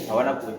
hawana kuya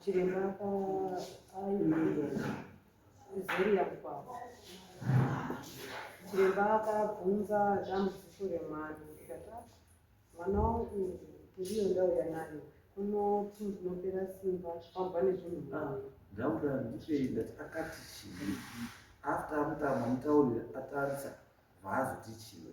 chiremba zeriyakwavo chiremba akabvunza dambudziko remwana ndikati mwana wangu ndiyo ndauya nayo unoti ndinopera simba pamba nezvinhu mwana ndauda ndipei ndati akati chii after amutama mutaurire atarisa vaazotichiwe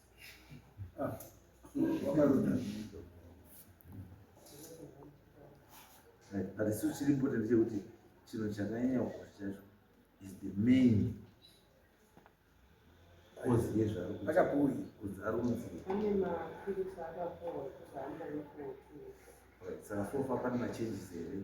asi chiri important chekuti chinhu chakanyanya kukosha chacho is the main kozi yezvarokuziaromuziisaka sofa pane machanges here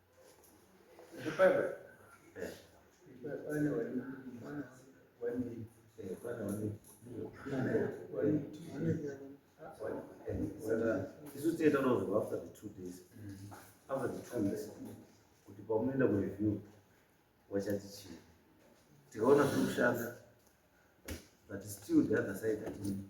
isu tiye tanozoa after the two days after the two days kuti pamunoenda kureview wachati chii tikaona zviri kushanda but still the other side atini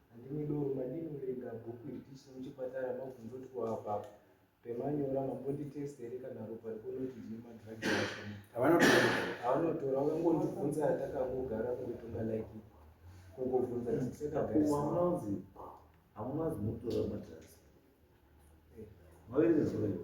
Handimi doro madii murega bhuku iri tichiri muchipatara mabvunzotwo apa pemanyora mambonditest here kana ropa rikonoti ndine madrugs ashoma. Havanotora vakangondibvunza atakangogara kungotonga like kungobvunza tisekagarisaaunonzi hamunazi mutora madrugs maverezvaiwo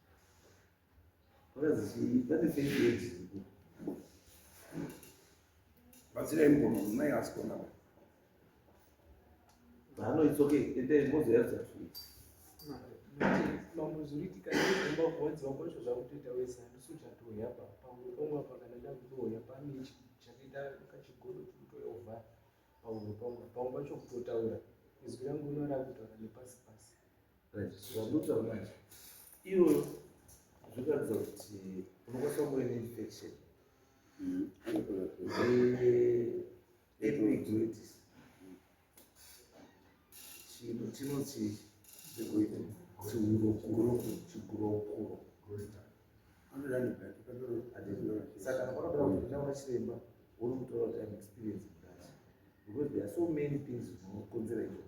batsirai mukoma mai asi kona hano it's okay ende mozoyadza mamuzuritika nekumba kuwanzi vakocho zvakutoita wese handisu chatoya pa pamwe pomwe apa kana ndakutoya pane chakaita kachigodo chikutoya ovha pamwe pomwe pamwe pacho kutotaura izwi rangu ino rakutaura nepasi pasi Zvamunotaura manje ivo zvinoratidza kuti unokwanisa kunge uine infection epiduitis chinhu chinoti chigurokuro chigurokuro saka vanoda kuti ndaona chiremba wonomutora kuti am experience mudasi because there are so many things zvinokonzera izvoo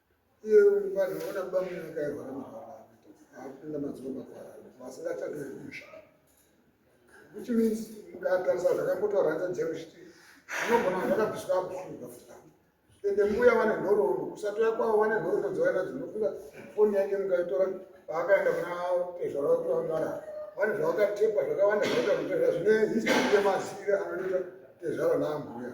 Which means, mukatarisa zvakambotaura hanzi dzero chiti anogona kuti vakabviswa akufunga futi ende mbuya vane nhoroondo kusatoya kwavo vane nhoroondo dzavaina dzinofunga foni yake mukaitora paakaenda kuna tezvara kuti vangara vane zvavakatepa zvakawanda zvakaita kutezva zvine history yemazire anoita tezvara naambuya